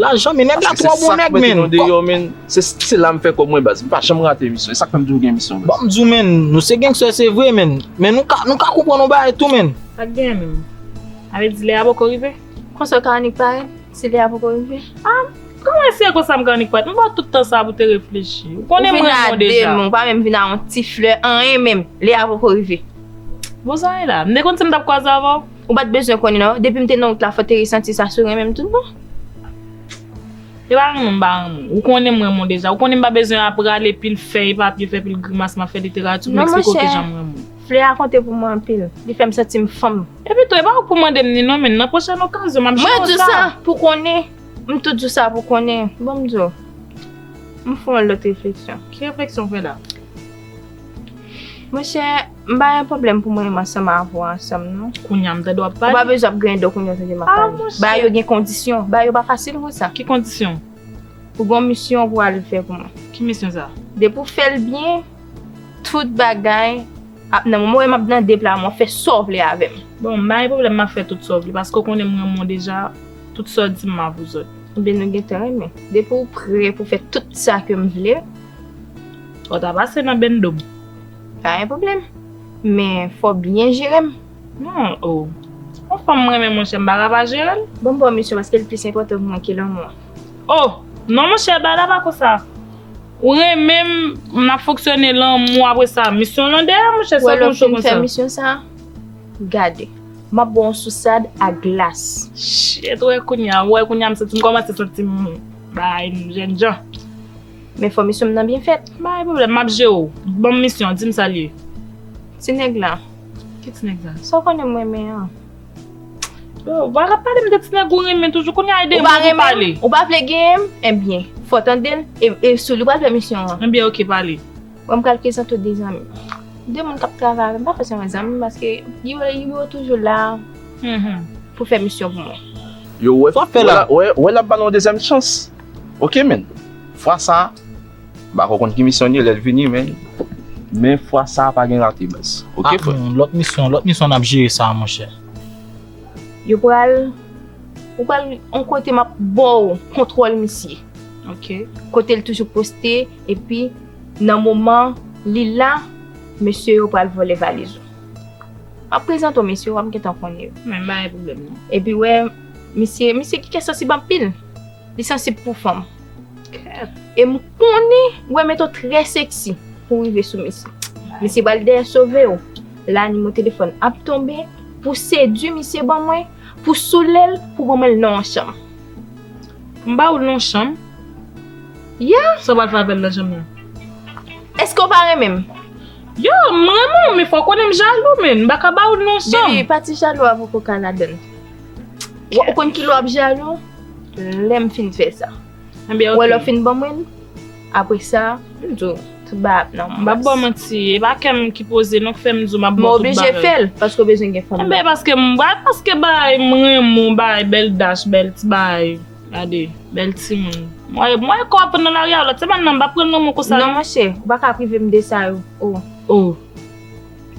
Lajan men nèg la twò bon nèg men. Aske se sak mete nou deyò men, se la m fè kòb mwen baz, m pa janm rate emisyon, e sak fè m toujou gen emisyon baz. Bon m di w men, nou se gangster se vre men, men nou ka, nou ka konprann yon bagay tou men. Sak genyen menm? A vle di lè a poko rive? Konsè ka annik parèt, si lè a poko rive? A, kòman si e konsa m ka annik parèt, m ba w tout tan sa pou w te reflechi, ou konnen m renmen w deja. Ou vin a 2 men, ou pa menm vin a yon ti flè, anyen menm, lè a poko rive. Bon sa e la? M te konn si m t ap kwaze avè w? Ou pat bezwen konnen non. Depim te nan wout la fò te resanti sa sou renmenm tout bon. Se pa renmen m pa renmen w. Ou konnen m renmen w deja. Ou konnen m pa bezwen ap rale pil fèy papye, fè pil grimas map fè literati pou m eksplike w kijan m renmen w. Flè a konte pou mwen anpil. Li fè m santi m fanm. Epi tou e pa ou k pou mande m ni non men nan pwochèn okazyon map jwe w sa. Mwen di w sa pou w konnen. M tou di w sa pou w konnen. Bon m di w. M fè yon lòt refleksyon. Ki refleksyon w fè la? Monchè. M pa gen pwoblèm pou m renmen ansanm avè w ansanm non. Kounya m tande w ap pale. Ou pa bezwen ap griyen do kounya w tande m ap pale. Ah mon Dieu! Bagay yo gen kondisyon. Bagay yo pa fasil konsa. Ki kondisyon? Ou gon misyon pou w al fè pou mwen. Ki misyon sa? Depi w fè l byen, tout bagay ap nan mwen. Ou wè m ap nan depla mwen, fè sa w vle avè m. Bon, m pa gen pwoblèm m ap fè tout sa w vle paske w konnen m renmen w deja, tout sa w di m ma vouzòt. Ebyen nou gen tan renmen. Depi w prè pou w fè tout sa ke m vle. Fò w ta pase nan bendo m. Pa gen pwoblèm. Men fò w byen jere m. Hum oo. Yon fanm m renmen monchè m pa ka pa jere l. Bon m ba w misyon paske l plis enpòtan pou mwen ke lanmou an. Oh! Non monchè bagay la pa konsa. Ou renmen m, n ap fonksyone lanmou apre sa misyon lan dèyè monchè sa konn cho konsa. Wè lè w fin fè misyon sa, gade. M ap ba w yon sousad ak glas. Shit, wè kounya, wè kounya m santi m kòmanse santi m bay m jènjan. Men fòmisyon m nan byen fèt. M pa gen pwoblèm, m ap jere w. Ban m misyon, di m sa l ye. Ti nèg la. Ki ti nèg sa? Sa w konnen m renmen an. Bon, ou pa ka pale m de ti nèg ou renmen toujou. Kounye a, ede m pou m pale. Ou pa renmen m? Ou pa vle genyen m? Enben, fò w tande l e sou li w pral fè misyon an. Enben oke, pale. Bon, m pral prezante w de zanmi m. De moun k ap travay avè m. M pa fè sèlman zanmi m paske yo toujou la pou fè misyon pou mwen. Yo wè, wè l ap ba nou yon dezyèm chans. Ok men, fwa sa, m pako konn ki misyon li ye lè l vini men, men fwa sa pa gen rate baz. Ok frè. Ah, lòt misyon, lòt misyon n ap jere sa monchè. Yo pral, ou pral yon kote m ap ba w kontwòl misye. Ok. Kote l toujou poste, epi nan moman li la, mesye yo pral vòlè valiz ou. M ap prezante w mesye yo, w ap gentan konnen yo. Mwen m pa gen pwoblèm non. Epi wè. Misye misye gen kè sansib anpil. Li sansib pou fanm. E m konnen Wemeto trè seksi pou w rive sou misye. Misye pral dèyè sove w la nimo telefòn ap tonbe pou w sedui misye ban mwen pou w soule l pou w ban mwen l nan yon chanm. M ba w l nan yon chanm? Yeah! Sa w pral fè avè l nan chanm nan? Èske w pa renmen m? Yeah! M renmen w men fò w konnen m jalou menn. M pa ka ba w l nan yon chanm. Baby pati jalou a poko ka ladan l. Ou konn ki lwa ap jalo? Lè m fin fè sa. Ou wè lò fin ban mwen l? Apre sa, m di w, tout bagay ap nan plas. M pa pou w manti. E pa kè m ki poze non k fè m di w m ap ban w tout bagay. M oblije fè l, paske w bezwen gen fanm nan. Enben, paske m bay, paske bay, m renmen w bay, bèl dach, bèl ti bagay. Gade, bèl timoun. M wè, m wè kò w ap pran nan lari a w la. Se pa nan, m pa pran nan mwen konsa non. Non monchè, ou pa ka prive m de sa yo. O. O.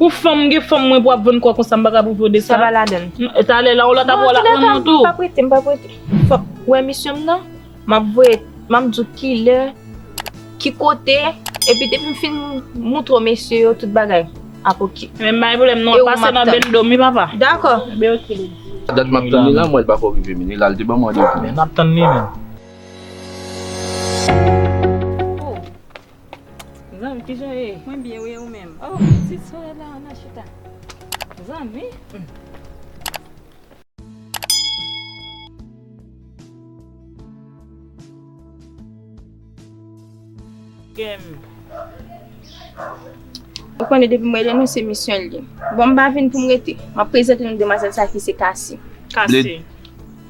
Pou fanm gen fanm mwen pou ap vann kò konsa m paka pou vode sa. Sa pa ladann. Talè la yon lòt ap wè w la pran non tou. M pa prete, m pa prete. Fòk ou wè misyon m nan. M ap voye, m ap di w ki lè, ki kote, epi depi m fin moutre w mesye yo tout bagay, ap oke. Men m pa gen pwoblèm non, pase nan Bendo m wi papa. Dakò. Ben oke li di. Dat m ap tann li la m wè l pako rive vini la, li te ban m randevou. Ben n ap tann li menm. Zanmi kijan ou ye? Mwen byen wi e ou menm? Oh pitit solet la ann al chita. Zanmi humm. Ou konnen depi mwen rele nou se misyon li. Bon m pa vin pou m rete. M ap prezante nou demwazèl sa ki se Kasi. Kasi.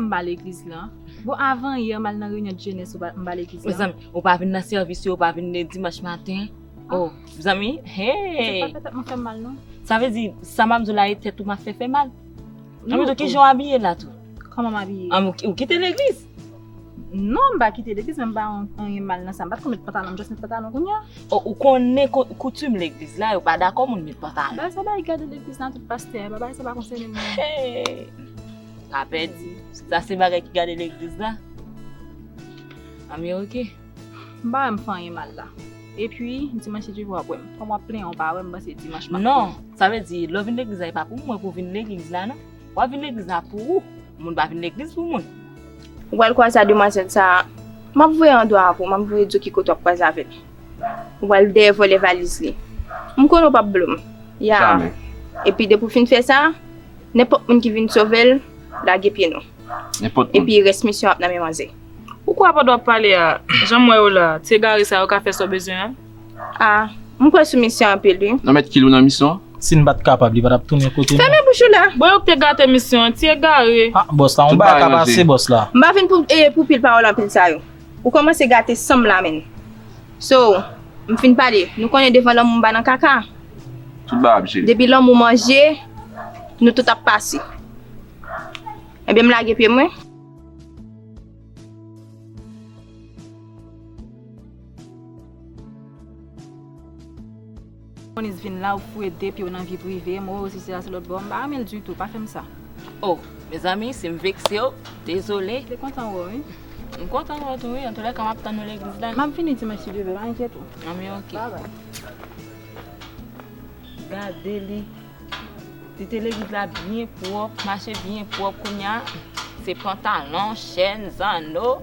Anba legliz la. Bon avan yè mal nan reunion de jeunesse ou pa anba legliz la. Mezanmi, ou pa vin nan service yo, ou pa vin dimanche matin. Oh, mezanmi, hey! Ou pa fè tèt mwen fè mal non. Sa vle di, sa map di w la e tèt ou map fè fè mal? Anmweyy kijan w abiye la tou? Kòman m abiye? Anmweyy ou kite legliz? Non m pa kite legliz men m pa wè anyen mal nan sa. M pa t konn met pantalon, m just met pantalon kounya. O ou konnen koutim legliz la, yo pa dakò moun met pantalon. Bagay sa bay gade legliz nan tout pastè, bagay sa pa konsène mwen. Hey! Pa pè di, si sa se bagay ki gade legliz la, a mi ok. M pa wè m fè anyen mal la. E pi, dimanch se Jewova ap wè m. Kòm w ap plenyen w pa wè m, m panse dimanch m ap plenyen. Non, sa vle di, lè w vin legliz la e pa pou mwen pou w vin legliz la non. Wap vin legliz la pou ou, moun pa vin legliz pou moun. Ou pral kwaze a demwazel sa a, map voye an dwa avw, map voye di w ki kote wap kwaze avel. Ou pral dèyè vòlè valiz li. M konnen w pap blom. Ya. Jamè. Epi depi w fin fè sa, nenpòt moun ki vin sovel, lage pye nou. Nenpòt moun. Epi rès misyon ap nan men manzè. Ou kwè pandan wap pale a, janm wè yo la, ti egare sa yo ka fè sa w bezwen an? Ah m kwè sou misyon anpil wi. Nan met kilou nan misyon an. Sim pat kapab li patap tounen kote nou. Femen bouch ou la. Bon yo k te gate misyon an ti egare. Ah boss la yon bagay ka pase boss la. M pa vin pou pou pil pawòl anpil sa yo. Ou kòmanse gate sanm la menn. So m fin pale nou konnen devan lanmou m pa nan kaka. Tout bagay ap jere. Depi lanmou manje nou tout ap pase. Ebyen m lage pye mwen. Monis vin la ou k fouye de pyew nan vi prive m ou sise a se lotbò m pa renmen l ditou pa fèm sa. Oh mezanmi sim veksew dezole. Li kontan wè w wi. M kontan wè w tou wi antoulèka map tann nou legliz la. Map vini dimanch si Dye vle pa enkyèt ou. Anmweyy ok. Gade li Li te legliz la byen pwòp mache byen pwòp kounya se pantalon chèn zanno.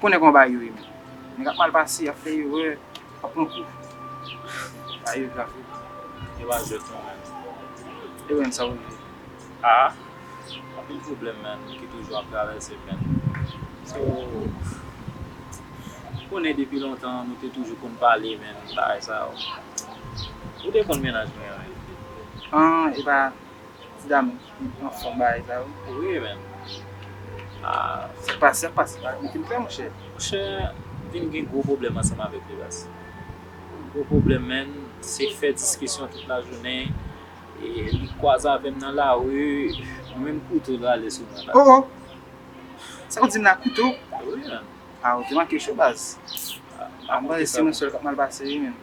Konnen kòman bagay yo ye menm. Nèg ap mal pase, y ap fè erè, y ap pran kou. Bagay yo grav wi. Yo pa jwèt non menn. E menm sa ou ye? Aa! Anpil pwoblèm menn ki toujou ap travèse menn. So, ou konnen depi lontan nou te toujou konn pale menn bagay sa yo. Ou te konn mennaj mwen an menn. An, e pa ti dam. Li pran fon bagay sa wi. Wi menn. Aah. Se pa se pa se pa li te fè monchè. Monchè vin gen gwo pwoblèm ansanm avèk li baz. Gwo pwoblèm menn se fè diskisyon tout lajounen e li kwaze avèm nan lari mwen menm kouto rale sou mwen la. Oh oh. Sa ou dim la kouto? Wi menn. Ah ou te manke cho baz. Aah. Mwen se mwen sèl kap mal pase wi menn.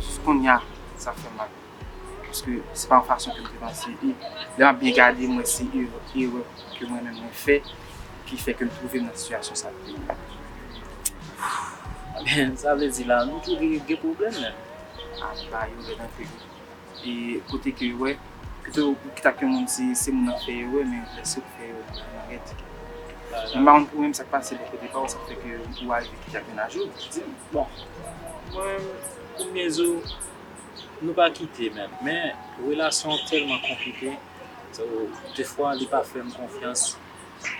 Jis konnya sa fèm mal. Paske se pa yon fason ke m te panse. E lè map byen gade m wè se erè ke mwen menm mwen fè ki fè ke m twouve m nan sitiyasyon sa kote m la. Sa vle di la nou tou de gen pwoblèm menm? An m ba yo lèd anpil wi. E kote ke yo wè, pito ou kite ak yon moun si se moun nan fè erè, men lè se ou ki fè erè pou moun nan rèd. Men m pa konn pou ou menm sa k pase bò kote pa ou, sa k fè ke ou arive kite ak menaj ou, di m. Bon, mwen menm, pou m byen di w, nou pa kite menm, men relasyon an tèlman konplike, dè fwa li pa fè m konfyans,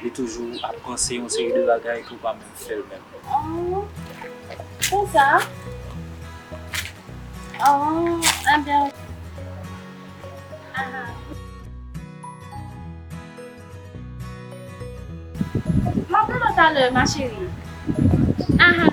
li toujou ap panse yon seri de bagay ke w pa menm fè l menm. Aww konsa? Aww enben ok. Ahaa. Map rele w talè ma chérie. Ahaa.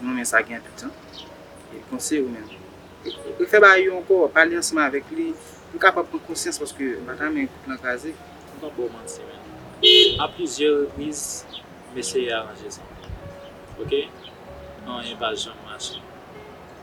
Mwen renmen sa gen anpil tan. E panse ou menm. Refè bagay yo ankò, pale ansanm avèk li pou l kapab pran konsyans paske m pa ta renmen koup lan kraze. M pap ba w manti men. A plizyè repriz m eseye aranje sa. Ok? Anyen pa janm mache.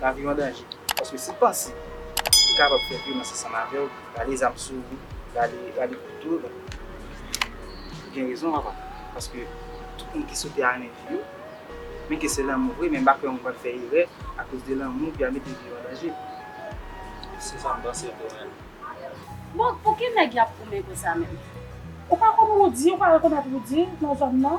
Laviw an danje paske si panse ou kapab fè vyolans ansanm avèw rale zam sou ou rale kouto nan ou gen rezon papa paske tout moun ki sote a renmen vi yo men ke se lanmou vre men m pa kwè moun pral fè erè akoz de lanmou epi al mete vi yo an danje se sam panse tou menm. Bon pouki nèg yap goumen konsa menm. Ou pa konn Roody ou pa rekonèt Roody nan zòn nan.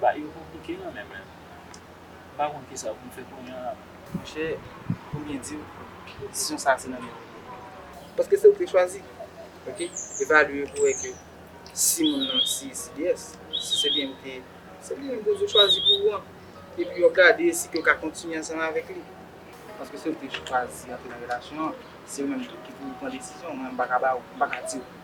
Bagay yo konplike nan menm menm. M pa konn kisa pou m fè kounye an la menm. Monchè pou m byen diw desizyon sa se nan men ou li ye. Paske se ou ki chwazi. Ok evalye pou wè ke si moun nan si CDS, si se li menm ki se li menm ou chwazi pou ou an. Epi wap gade si ke ou ka kontinye ansanm avèk li. Paske se ou ki chwazi antre nan relasyon an, se ou menm ki pou pran desizyon, mwen m paka ba ou, m paka diw.